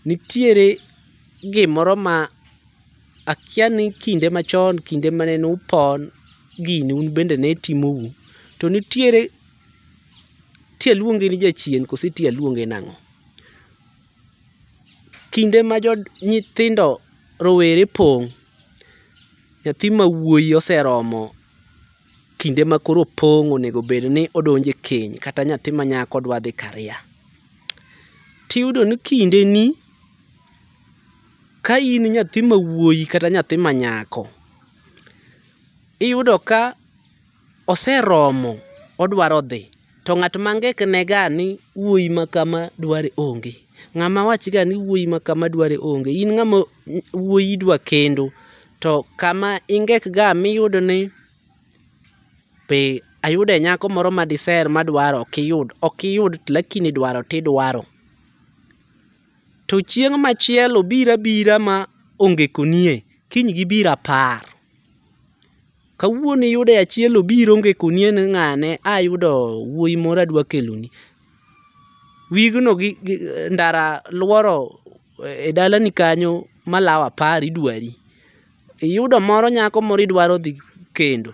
Nitiere gimoro ma akia ni kinde machon kinde mane nupon gini un bende ne timou to nitiere ti aluonge ni jachien kose ti aluonge nang'o? Kinde ma jo nyithindo rowere pong' nyathi ma wuoyi oseromo kinde ma koro opong' onego bed ni odonjo e keny kata nyathi ma nyako dwa dhi karia. tiyudo ni kindeni ka in nyathi ma wuoyi kata nyathi ma nyako, iyudo ka oseromo odwaro dhi to ng'at ma ngikne ga ni wuoyi ma kama dware onge. Ng'ama wachi ga ni wuoyi ma kama dware onge. In ng'ama wuoyi idwa kendo to kama ingek ga miyudo ni pe ayude nyako moro ma diser madwaro ok iyud ok iyud lakini dwaro tidwaro to chieng' machielo bira bira ma onge konie kiny gi bira par kawuono iyude achiel obiro onge konie ni ng'ane ayudo wuoyi moro adwa keloni wigno gi ndara lworo e dalani kanyo malawo apar idwari iyudo moro nyako moro idwaro dhi kendo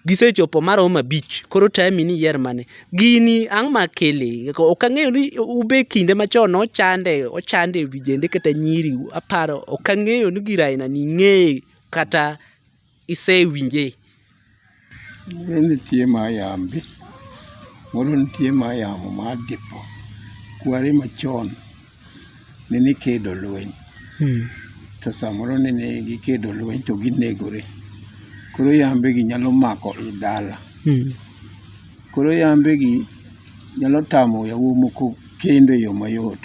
gisechopo marom abich koro tami ni iyier mane gini ang' ma kele ok ang'eyo ni ube kinde machon ochande ochande vijende kata nyiri aparo ok ang'eyo ni gir aina ni ing'eye kata isewinje. Ne nitie ma yambi, moro nitie ma yamo ma dipo. Kwari machon ne nikedo lweny, to samoro ne ni gikedo lweny to ginegore. Koro yambe gi nyalo mako i dala. Koro yambe gi nyalo tamo yawuoyi moko kendo e yo mayot.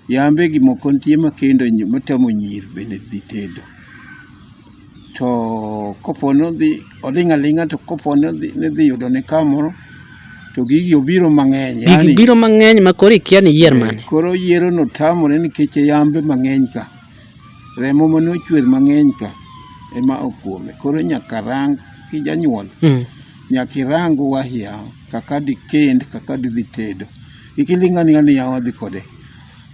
Yambe gi moko nitie makendo nyi- matamo nyir bende dhi tedo. To kopo nodhi oling' aling'a to kopo nodhi nidhi yudo ne kamoro to gigi obiro mang'eny. Gigi yaani- biro mang'eny ma koro ikia ni iyier mane. Eh, Koro yiero no tamore nikech yambe mang'eny ka. Remo mane ochwer mang'eny ka ema okuome. Koro nyaka rang kijanyuol Mm. Nyaka irang owahi yawa kaka dikend kaka didhi tedo. Kik iling' aling'a ni yawa wadhi kode.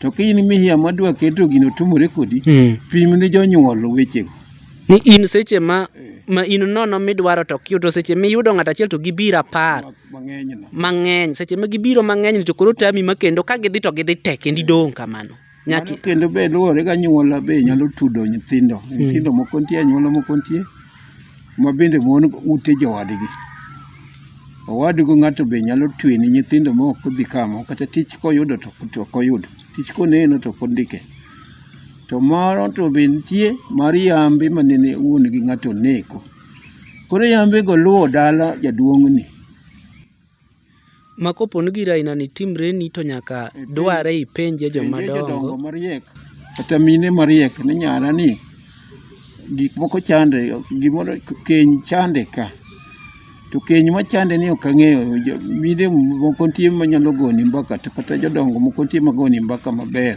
To ka in mihiya madwa keto gino otumore kodi, Mm. pim ne jonyuol wechego. Ni in seche ma Eh, ma in nono midwaro to ok yud to seche miyudo ng'ato achiel to gibiro apar ma- Mang'enyno. mang'eny seche ma gibiro mang'eny to koro tami ma kendo ka gidhi to gidhi te kendo idong' kamano. Nyaki. Mano kendo be luwore gi anyuola be nyalo tudo nyithindo hmm. nyithindo moko nitie anyuola moko nitie ma bende mon ute jowadgi owadgo ng'ato be nyalo twe ni nyithindo ma ok odhi kamo kata tich koyudo to ok oyudo tich koneno to ok ondike to moro to be nitie mar yambe ma nene wuon gi ng'ato neko koro yambego luwo dala jaduong'ni ma kopo ni gir aina ni timreni to nyaka dware ipenje joma Penje jodongo dongo mariek kata mine mariek ni nyara ni gik moko chande gimoro keny chande ka to keny machande ni ok ang'eyo Jo- mine moko nitie manyalo goni mbaka to kata jodongo moko nitie magoni mbaka maber